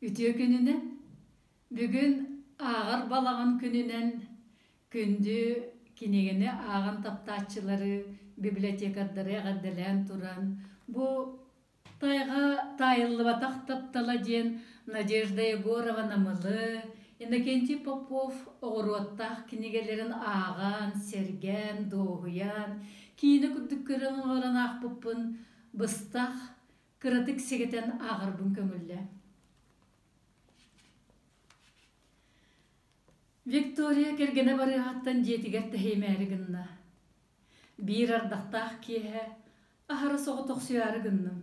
Үтүө күнүнэн! Бүгүн ааҕар балаҕан күнүнэн күндү кинигини ааҕан таптааччылары, библиотекардары эҕэрдэлээн туран бу тайга таайыллыбатах таптала диэн Надежда Егорова Намылы, Иннокентий Попов оҕуруоттаах кинигэлэрин ааҕан, сэргээн, дуоһуйан, киинэ курдук көрөн олорон аахпыппын быстах Кыратык сэгэтэн ааҕарбын көҥүллэ. Виктория кэргэнэ барыаһаттан дьиэтигэр тэһиимээри гынна. Биир ардахтаах киэһэ аһара соҕотохсуйаары гынным.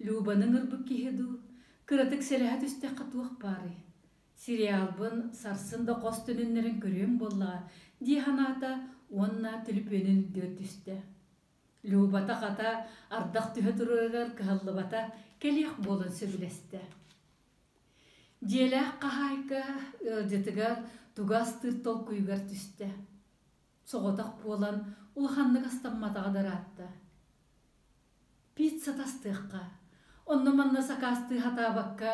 Любаны ыҥырбыт киһи дуу, кыратык сэлэһэ түстэххэ туох баарый? Сериалбын сарсын да хос төнүннэрэн көрүөм буоллаҕа, дии санаата уонна түлүпүөнүн үрдүгэр түстэ. Любата хата ардах түһэ туруорар кыһаллыбата кэлиэх буолан сөбүлэстэ. Дьиэлээх хаһаайка ыалдьытыгар туга астыыр толкуйугар түстэ. Соҕотох буолан улаханнык астамматаҕа дараатта. Пицца тастыахха, онно-манна сакаастыы сатаабакка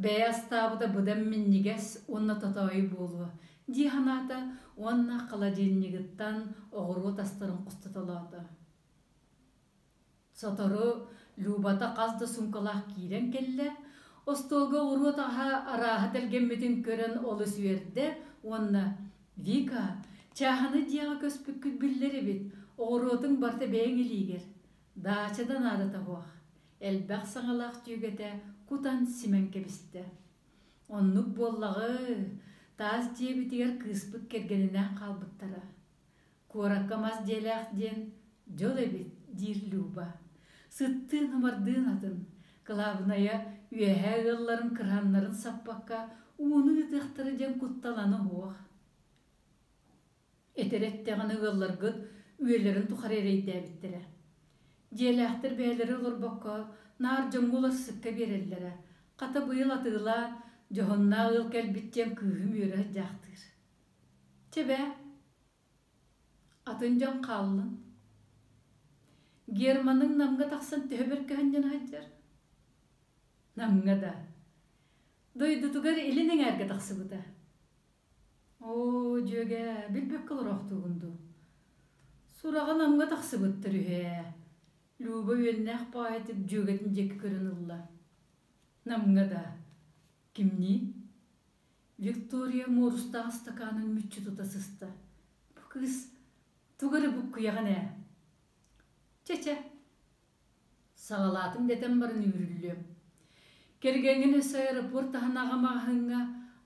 Бэйэ астаабыта быдам минньигэс уонна тотоойу буолуо дии санаата уонна холодильнигыттан оҕуруот астарын устаталаата. Сотору Любата хас да суумкалаах киирэн кэллэ, остуолга оҕуруот аһа арааһа тэлгэммитин көрөн олус үөрдэ уонна «Вика, чааһынай дьиэҕэ көспүккүт биллэр эбит, оҕуруотуҥ барыта бэйэҥ илиигэр, даачада наада табыах, элбэх саҥалаах дьүөгэтэ кутан симэн кэбистэ. Оннук буоллаҕы-ы, таас дьиэбитигэр кыыспыт кэргэнинээн хаалбыттара. Куоракка мас дьиэлээх диэн дьол эбит, диир Люба. Сыттыын-ымардыын атын, кылаабынайа, үөһээ ыалларын кырааннарын саппакка ууну ыытыахтара диэн куттал аны уһуох. Этэр эттэҕинэ ыалларгыт үйэлэрин тухары эрэйдээбиттэрэ. Дьиэлээхтэр бэйэлэрэ олорбокко наар дьоҥҥо уларсыкка биэрэллэрэ, хата быйыл атыылаа, дьоһуннаа ыал кэлбит диэн кыыһым үөрэ сыдьаахтыыр. Чэ бээ, атын дьон хааллын. Германыҥ Намҥа тахсан төһө бэркэһинньэн сылдьар? Намҥа да. Дойдутугар илин эҥээргэ тахсыбыта. оо дьүөгэ билбэккэ олороохтуугун дуу сураҕа намҥа тахсыбыттар үһү ээ люба үөннээх поэтик дьүөгэтин диэки көрөн ылла намҥа да кимнии виктория муорустаах ыстакаанын мүччү тута сыста бу кыыс тугу эрэ буккуйаҕын ээ чэ чэ Саҕалаатым дэтэн баран үүрүллүөм. Кэргэҥҥин өссө аэропорт таһынааҕы маҕаһыыҥҥа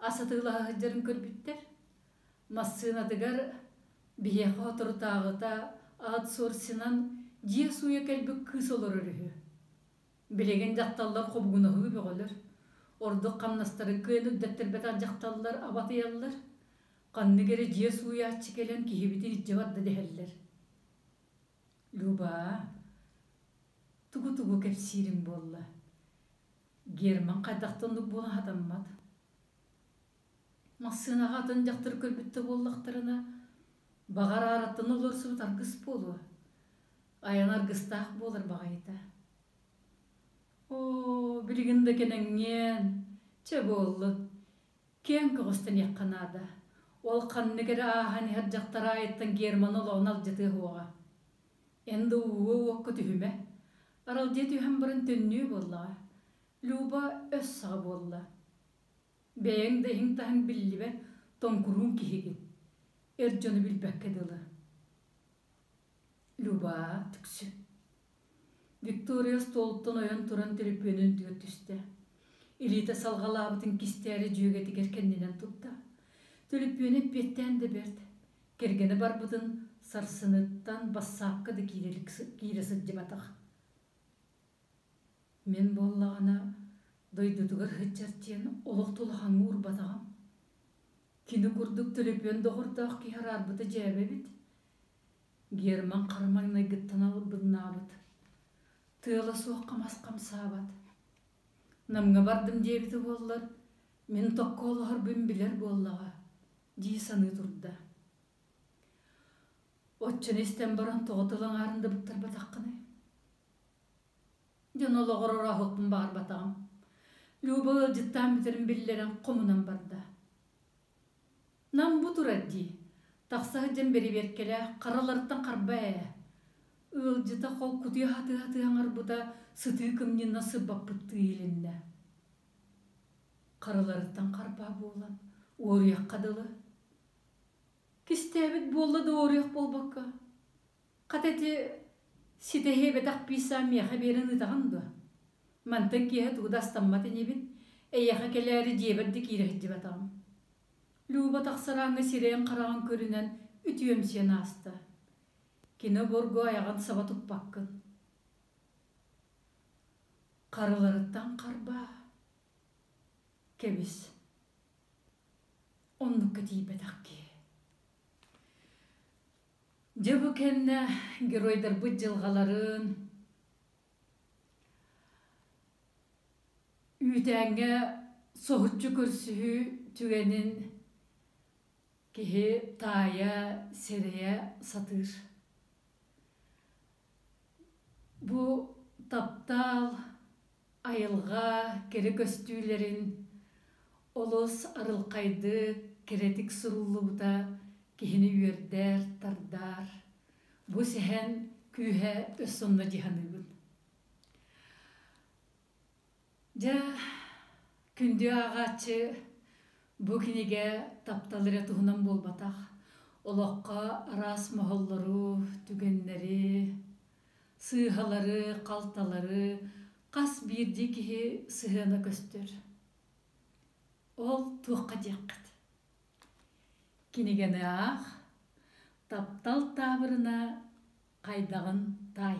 ас атыылаһа сылдьарын көрбүттэр. Массыынатыгар биһиэхэ соторутааҕыта аутсорсинан дьиэ сууйа кэлбит кыыс олорор үһү. Билигин дьахталлар хобугунаһыы бөҕөлөр. Ордук хамнастары кыан үрдэттэрбэтэх дьахталлар абатыйаллар. Ханнык эрэ дьиэ сууйааччы кэлэн киһибитин илдьэ барда дэһэллэр. Люба, тугу-тугу кэпсиирим буолла? Герман хайдахта оннук буолан хатаммат? Массыынаҕа атын дьахтар көрбүттэ буоллахтарына, баҕар аараттан олорсубут аргыс буолуо. Айан аргыстаах буолар баҕайыта. Оо, билигин да кэнэҥҥиэн, чэ буолла. Киэҥ көҕүстэниэххэ наада. Ол ханнык эрэ ааһан иһэр дьахтар аайыттан Германы олоҕун алдьатыа суоҕа. НДУ-УОК түһүмэ. Аралдьыйа түһэн баран төннүө буоллаҕа. Люба өс саҕа буолла. Бэйэҥ да иһиҥ-таһыҥ биллибэт тоҥкурууҥ киһигин. Эр дьону билбэккэ дылы. Люба, түксү. Виктория остуолуттан ойон туран төлөпүөнү үрдүгэр түстэ. Илиитэ салҕалаабытын кистээри дьүөгэтигэр кэннинэн турда. Төлөпүөнэ эппиэттээн да бэрт. Кэргэнэ барбытын сарсыныттан бассаапка да киирэ, киирэ сылдьыбатах. Мин буоллаҕына дойдутугар сылдьар диэн олох тулахаҥҥа урбатаҕым. Кини курдук төлөпүөн доҕордоох киһи араарбыта дьээбэ эбит. Герман хара маҥнайгыттан албыннаабыт, тыала суох хамас хамсаабат. Намҥа бардым диэбитэ буоллар, мин токко олоһорбун билэр буоллаҕа, дии саныы турда. Оччону истэн баран тоҕо тыл аҥаарын да быктарбатаххыный? Дьон олоҕор орооһукпун баҕарбатаҕым. Люба ыалдьыттаан бүтэрин биллэрэн хомунан барда. Нам бу турар дии, тахса сылдьан бэрэбиэркэлээх хараларыттан харба ээ. Ыалдьыта хол кутуйа хатыһатыһа аҥарбыта сытыы кымньынна сырбаппыттыы илиннэ. Хараларыттан харбаа буолан, уоруйахха дылы. Кистээбит буолла да уоруйах буолбакка, Хата ити ситэһиэбэтэх писа миэхэ биэрэн ыытаҕын дуо? Мантан киэһэ тугу да астаммат инибин, эйиэхэ кэлээри дьиэбэр да киирэ сылдьыбатаҕым. Люба тахсарааҥҥы сирэйин-хараҕын көрүнэн үтүөмсүйэн ааста. Кини обургу айаҕын саба туппаккын. Харыларыттан харбаа. Кэбис. Оннукка тиийбэтэх киһи. Дьэ бу кэннэ геройдарбыт дьылҕаларын үүтээҥҥэ соһуччу көрсүһүү түгэнин киһи таайа, сэрэйэ сатыыр. Бу таптаал Айылҕа кэрэ көстүүлэрин олус арылхайдык, кэрэтик суруллубута киһини үөрдэр-тардар. Бу сэһэн күүһэ өссө онно дьаһаныыбын. Дьэ, күндү ааҕааччы, бу кинигэ таптал эрэ туһунан буолбатах. Олоххо араас моһоллору, түгэннэри, сыыһалары, халталары хас биирдии киһи сыһыана көстөр. Ол туохха диэххит. Кинигэни аах, таптал таабырына хайдаҕын таай.